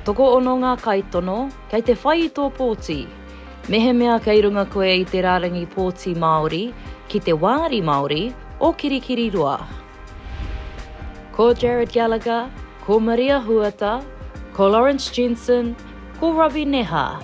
Tokoono ngā kaitono kei te whai i tō pōti. Mehemea kei runga koe i te rārangi pōti Māori ki te wāri Māori o Kirikiriroa. Ko Jarrod Gallagher, ko Maria Huata, ko Lawrence Jensen, ko Robbie Neha,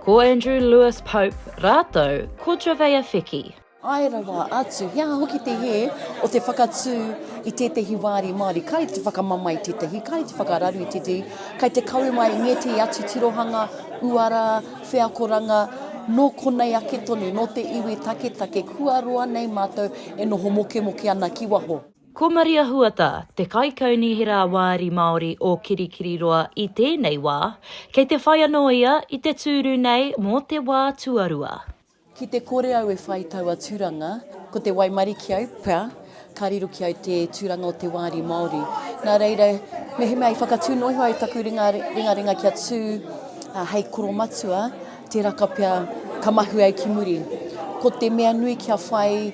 Ko Andrew Lewis Pope rātou ko Jovea Feki. Ae rawa atu, he aha hoki te hē o te whakatū i tētehi wāri Māori? Kai te whakamamae tētehi, kai te whakararu i tētehi, kai te kawe mai i ngētehi atu tirohanga, uara, wheakoranga, nō konei ake tonu, nō te iwi taketake, kua roa nei mātou e noho mokemoke ana ki waho. Ko Maria Huata te Kaikaunihera Wāri Māori o Kirikiriroa i tēnei wā, kei te whai anō ia i te tūru nei mō te wā tuarua. Ki te kore au e whai taua tūranga, ko te waimarie ki au pea, ka riro ki au te tūranga o te wāri Māori. Nā reira, mehemea i whakatū noiho ai taku ringa ringaringa kia tū hei koromatua, tēraka pea ka mahue au ki muri. Ko te mea nui kia whai.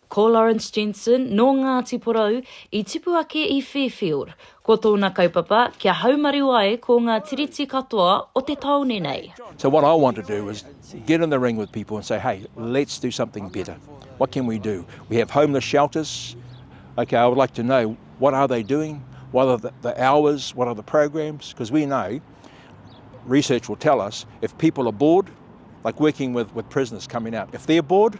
Ko Lawrence Jensen, nō Ngāti Porou, i tipu ake i Fairfield. Ko tōna kaupapa, kia haumaru ai ko ngā tiriti katoa o te tāone nei. So what I want to do is get in the ring with people and say, hey, let's do something better. What can we do? We have homeless shelters. Okay, I would like to know what are they doing? What are the, the hours? What are the programs? Because we know, research will tell us, if people are bored, like working with, with prisoners coming out, if they're bored,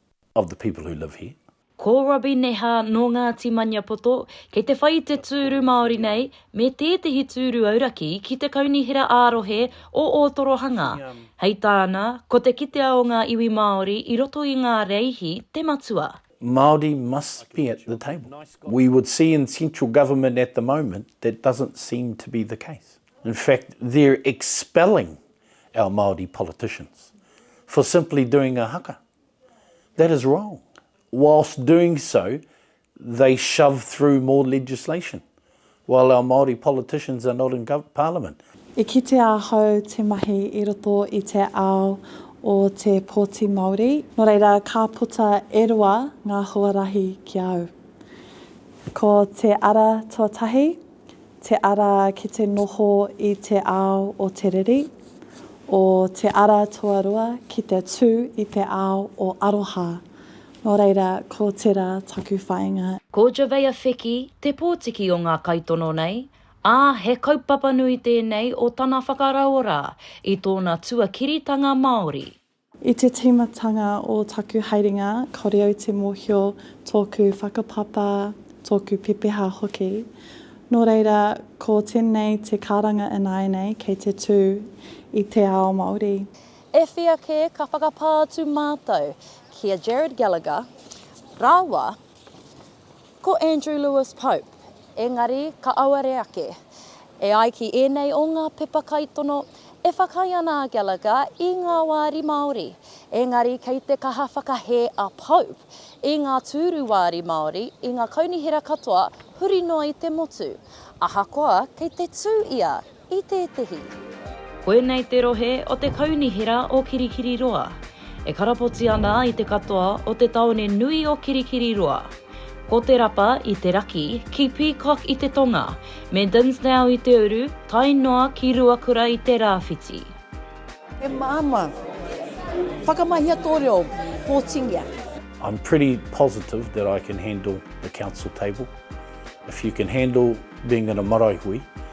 of the people who live here. Ko Robbie Neha nō Ngāti Maniapoto, kei te whai i te tūru Māori nei, me tētehi tūru auraki ki te Kaunihera ā-Rohe o Ōtorohanga. Hei tāna, ko te kitea o ngā iwi Māori i roto i ngā rēihi te matua. Māori must be at the table. We would see in central government at the moment that doesn't seem to be the case. In fact, they're expelling our Māori politicians for simply doing a haka. That is wrong. Whilst doing so, they shove through more legislation, while our Māori politicians are not in parliament. I kitea ahau te mahi i roto i te ao o te pōti Māori, nō reira ka puta e rua ngā huarahi ki a au. Ko te ara tuatahi, Te ara ki te noho i te ao o te riri, o Te Ara Toaroa ki te tū i te ao o aroha. Nō reira, ko tērā taku whāinga. Ko Javeya Feki te pōtiki o ngā kaitono nei, ā, he kaupapa nui tēnei o tana whakarauora i tōna tuakiritanga Māori. I te tīmatanga o taku haerenga, kāore au te mōhio tōku whakapapa, tōku pepeha hoki. Nō reira, ko tēnei te karanga ināianei kei te tū i te ao Māori. E whia kē ka whakapā atu mātou ki a Gerard Gallagher rāua Ko Andrew Lewis Pope, engari ka auare ake. E ai ki ēnei o ngā pepa kaitono, e whakaae ana a Gallagher i ngā wāri Māori, engari kei te kaha whakahē a Pope i ngā tūru wāri Māori i ngā kaunihera katoa huri noa i te motu, ahakoa kei te tū ia i tētehi. Koinei te rohe o te Kaunihera o Kirikiriroa, e karapoti ana i te katoa o te taone nui o Kirikiriroa. Ko Te Rapa i te raki, ki Peacock i te tonga, me Dinsdale i te uru, tae noa ki Ruakura i te rāwhiti. He māmā. Whakamahia tō reo, pōtingia. I'm pretty positive that I can handle the council table. If you can handle being in a marae hui,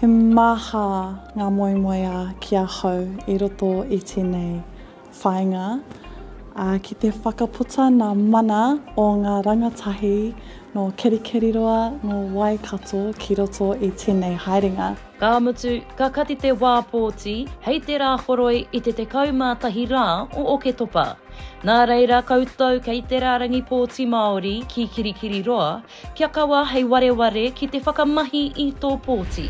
He maha ngā moemoeā ki ahau i roto i tēnei whāinga, ā, ki te whakaputa nā mana o ngā rangatahi nō Kerikeriroa, nō Waikato ki roto i tēnei haerenga. Ka mutu, ka kati te wā pōti hei te rā horoi i te 11 rā o Oketopa. Nā reira koutou kei te rārangi pōti Māori ki Kirikiriroa, Kia kawa hei wareware ki te whakamahi i tō pōti.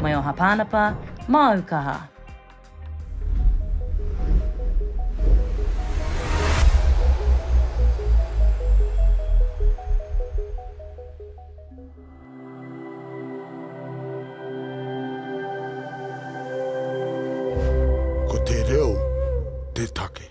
Mai o Hapānapa, māu kaha. Ko te reo te take.